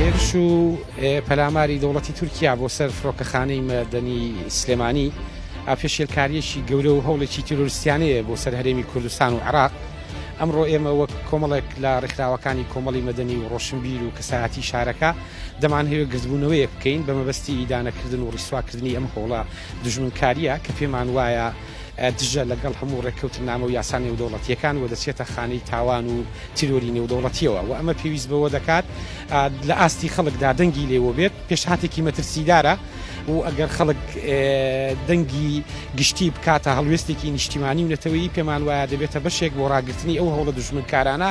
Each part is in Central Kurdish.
هێرش و پەلاماری دەوڵەتی تورکیا بۆ سەر فڕۆکەخانەی مەدەنی سلێمانی ئاپێشێلکاریەکی گەورە و هەوڵێکی تیرۆرستیانەیە بۆ سەر هەرێمی کوردستان و عراق ئەمڕۆ ئێمە وەک کۆمەڵێک لە ڕێکخراوەکانی کۆمەڵی مەدەنی و ڕۆشنبیر و کەسایەتی شارەکە دەمانهەوێت گردبوونەوەیەک بکەین بە مەبەستی ئیدانەکردن و ڕیسواکردنی ئەم هەوڵە دژمنکارییە کە پێمان وایە دژە لەگەڵ هەموو ڕێککەوتنامە و یاسا نێودەوڵەتیەکان و دەچێتە خانەی تاوان و تیرۆری نێودەوڵەتیەوە و ئەمە پێویست بەوە دەکات لە ئاستی خەڵکدا دەنگی لێوە بێت پێشهاتێکی مەترسیدارە و ئەگەر خەڵک دەنگی گشتی بکاتە هەڵوێستێکی نیشتیمانی و نەتەوەی پێمان وایە دەبێتە بەشێک بۆ ڕاگررتنی ئەو هەوڵە دژمنکارانە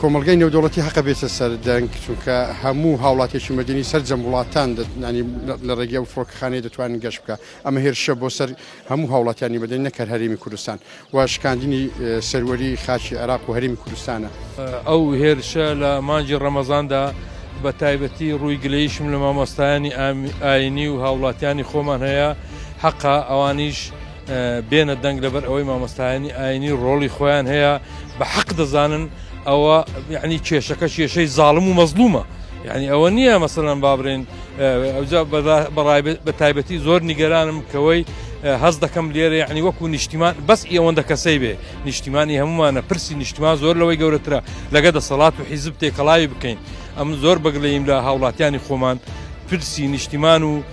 کۆمەڵگای نێودەوڵەتی هەقە بێتە سەر دەنگ چونکە هەموو هاوڵاتێکی مەدەنی سەرجەم وڵاتان دەتنانی لە ڕێگەی ئەو فڕۆکەخانەی دەتوانن گەشت بکە ئەمە هێرشە بۆ سەر هەموو هاوڵاتیانی مەدەنی نەکەر هەرێمی کوردستان و شکاندنی سەروەری خاچی عێراق و هەرێمی کوردستانە ئەو هێرشە لە مانجی ڕەمەزاندا بە تایبەتی ڕووی گلەیشم لە مامۆستایانی ئاینی و هاوڵاتیانی خۆمان هەیە حەقا ئەوانیش بێنە دەنگ لەبەر ئەوەی مامۆستایانی ئاینی ڕۆڵی خۆیان هەیە بە حەق دەزانن ئەوە یعنی کێشەکە کێشەی زاڵم و مەزلومە یعنی ئەوە نییە مەسەلەن بابرێن ئەوجا بەڕای بە تایبەتی زۆر نیگەرانم کەوەی هەز دەکەم لێرە یعنی وەکو نیشتیمان بەس ئێوەندە کەسەی بێ نیشتیمانی هەمومانە پرسی نیشتمان زۆر لەوەی گەورەترە لەگە دەسەڵات و حیزب تێکەڵاوی بکەین ئەم زۆر بەگلەیم لە هاوڵاتیانی خۆمان پرسی نیشتیمان و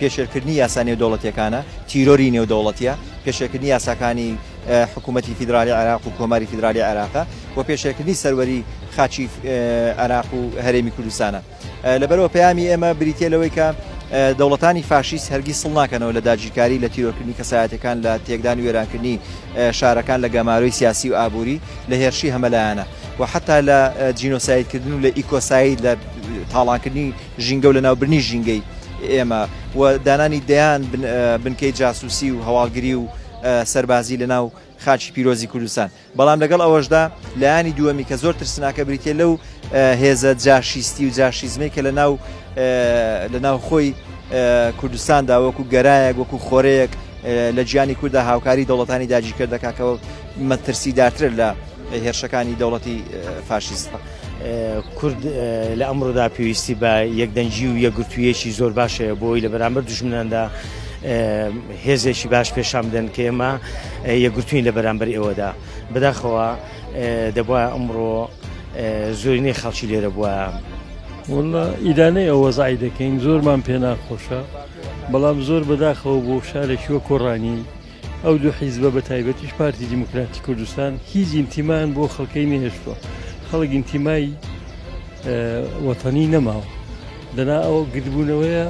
پێشێلکردنی یاسا نێودەوڵەتییەکانە، تیرۆری نێودەوڵەتییە، پێشێلکردنی یاساکانی حکوومەتی فیدراڵیی عێراق و کۆماری فیدراڵیی عێراقە و پێشێلکردنی سەروەریی خاکی عێراق و هەرێمی کوردستانە. لەبەرئەوە پەیامی ئێمە بریتییە لەوەی کە دەوڵەتانی فاشیست هەرگیز سڵ ناکەنەوە لە داگیرکاری لە تیرۆرکردنی کەسایەتیەکان لە تێکدان و وێرانکردنی شارەکان لە گەمارۆی سیاسی و ئابووری لە هێرشی هەمەلایەنە و حتا لە جینۆسایدکردن و لە ئیکۆساید لە تاڵانکردنی ژینگە و لەناوبرنی ژینگەی ئێمە و دانانی دەیان بنکەی جاسوسی و هەواڵگری و سەربازی لەناو خاچی پیرۆزی کوردستان بەڵام لەگەڵ ئەوەشدا لایانی دووەمی کە زۆر ترسناکە بریتە لەو هێزە جاشیستی و جاشیزمی کە لە ناو لە ناو خۆی کوردستاندا وەکو گەرایەک وەکو خۆرەیەک لە گیانی کووردا هاوکاری دەوڵەتانی داگیرکردەکە کە مەترسیدارتر لە هێرشەکانی دەوڵەتی فاشیستە. کورد لە ئەمڕۆدا پێویستی بە یەکدەنگی و یەکگرتوویەکی زۆر باش هەیە بۆی لە بەرامبەر دژمناندا هێزێکی باش پێشان بدەن کە ئێمە یەکگرتوین لە بەرامبەر ئێوەدا بەداخەوە دەبە ئەمڕۆ زۆرینەی خەڵکی لێرە بووە وڵە ئیدانەی ئەوە زای دەکەین زۆرمان پێناخۆشە بەڵام زۆر بەداخەوە بۆ شارێکی وە کۆڕانی ئەو دوو حیزبە بە تایبەتیش پارتی دیموکراتی کوردستان هیچ ئینتیمان بۆ خەڵکەی نهێشتووە خەڵک ئینتیمای وەتەنی نەماوە دەنا ئەوە گردبوونەوەیە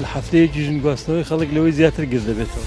لە هەفتەیەکی ژن گواستنەوەی خەڵک لەوەی زیاتر گرد دەبێتەوە.